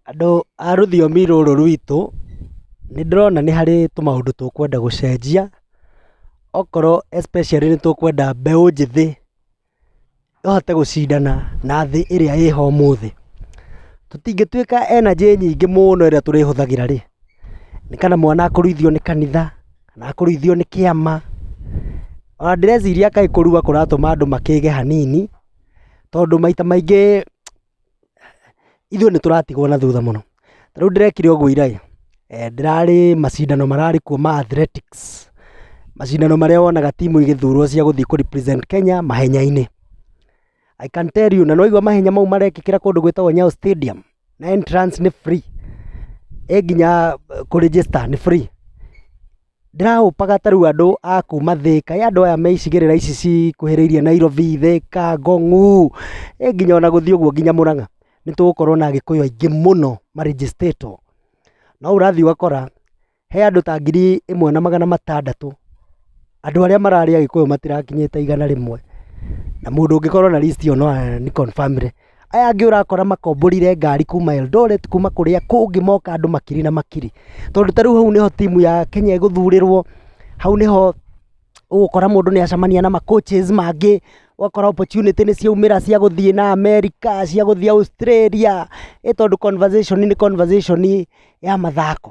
Andũ a rũthiomi rũrũ rwitũ, nĩ ndĩrona nĩ harĩ tũmaũndũ tũkwenda gũcenjia, okorwo especially nĩ tũkwenda mbeũ njĩthĩ ĩhote gũcindana na thĩ ĩrĩa ĩho ũmũthĩ. Tũtingĩtuĩka energy nyingĩ mũno ĩrĩa tũrĩhũthagĩra rĩ, nĩ kana mwana akũruithio nĩ kanitha, kana akũruithio nĩ kĩama, ona ndĩreciria kaĩ kũrua kũratũma andũ makĩĩge hanini, tondũ maita maingĩ ithuĩ nĩ tũratigwo na thutha mũno. Ta rĩu ndĩrekire ũguo ira ĩ, ndĩrarĩ macindano mararĩ kuo ma athletics, macindano marĩa wonaga timu igĩthurwo cia gũthiĩ kũ represent Kenya mahenya-inĩ. I can tell you na nĩ waigua mahenya mau marekĩkĩra kũndũ gwĩtagwo Nyayo Stadium, na entrance nĩ free, ĩ nginya kũ register nĩ free. Ndĩra hope aga ta rĩu andũ a kuma Thĩka, ĩ andũ aya me icigĩrĩra ici cikuhĩrĩirie Nairobi, Thĩka, Ngong'u, ĩ nginya ona gũthiĩ ũguo nginya Mũrang'a, nĩ tũgũkorwo na Agĩkũyũ aingĩ mũno ma register wo. No ũrathiĩ ũgakora he andũ ta ngiri ĩmwe na magana matandatũ, andũ arĩa mararĩ Agĩkũyũ matirakinyĩte igana rĩmwe, na mũndũ ũngĩkorwo na list ĩyo no a ni confirm re. Aya angĩ ũrakora makomborire ngari kuma Eldoret kuma kũrĩa kũngĩ moka andũ makiri na makiri tondũ ta rĩu hau nĩho timu ya Kenya ĩgũthurĩrwo hau nĩho ũgũkora mũndũ nĩ acemania na ma coaches mangĩ ũgakora opportunity nĩ ciaumĩra cia gũthiĩ na America cia gũthiĩ Australia ĩ tondũ conversation nĩ conversation ya mathako.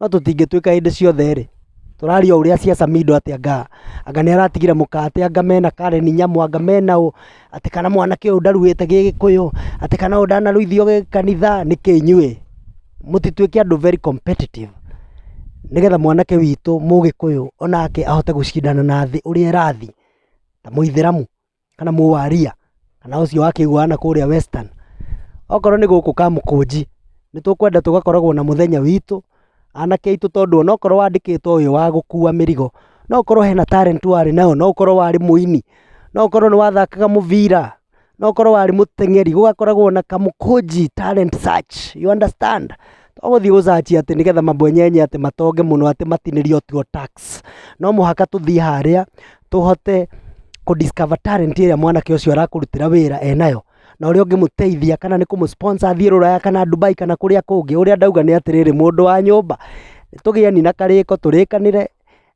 No tũtingĩtuĩka hĩndĩ ciothe-rĩ, tũraria ũrĩa cia Samido atĩ anga, anga nĩ aratigire mũka atĩ anga mena Karen Nyamu, anga mena ũ, atĩ kana mwanake ũyũ ndaruĩte gĩgĩkũyũ, atĩ kana ũyũ ndanaruithio gĩkanitha, nĩkĩ inyuĩ? Mũtituĩke andũ very competitive nĩgetha mwanake witũ mũgĩkũyũ onake ahote gũcindana na thĩ ũrĩa ĩrathiĩ, ta mũithĩramu. kana mũwaria kana ũcio wa kĩgwa na kũrĩa western okorwo nĩ gũkũ kamũkũnji nĩ tũkwenda tũgakoragwo na mũthenya witũ anake aitũ tondũ onokorwo wandĩkĩtwo ũyũ wa gũkua mĩrigo no ũkorwo hena talent warĩ nayo no ũkorwo warĩ mũini no ũkorwo nĩ wathakaga mũbira no ũkorwo warĩ mũteng'eri gũgakoragwo na kamũkũnji talent search you understand to gũthiĩ gũcanci atĩ nĩgetha mabwenyenye atĩ matonge mũno atĩ matinĩrio tuo tax no mũhaka tũthiĩ harĩa tũhote kũ discover talent ĩrĩa mwanake ũcio arakũrutĩra wĩra enayo na ũrĩa ũngĩmũteithia kana nĩ kũmũ sponsor athiĩ rũraya kana Dubai kana kũrĩa kũngĩ ũrĩa ndauga nĩ atĩrĩrĩ mũndũ wa nyũmba tũgĩani na karĩko tũrĩkanĩre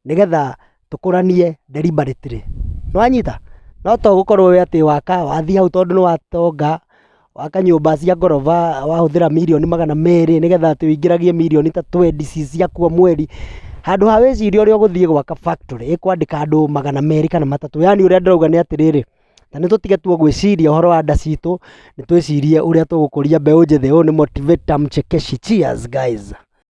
nĩgetha tũkũranie deliberately nĩ wanyita, no to gũkorwo wĩ atĩ waka wathiĩ hau tondũ nĩ watonga waka nyũmba cia ngoroba wahũthĩra mirioni magana merĩ nĩgetha atĩ ũingĩragie mirioni ta twendi ci ciaku o mweri, handũ ha wĩcirie ũrĩa ũgũthiĩ gwaka factory ĩkwandĩka andũ magana merĩ kana matatũ yaani ũrĩa ndĩrauga nĩ atĩrĩrĩ, na nĩ tũtige tu gwĩciria ũhoro wa nda citũ nĩ twĩcirie ũrĩa tũgũkũria mbeũ njĩthĩ ũyũ nĩ motivator mchekeshi cheers guys.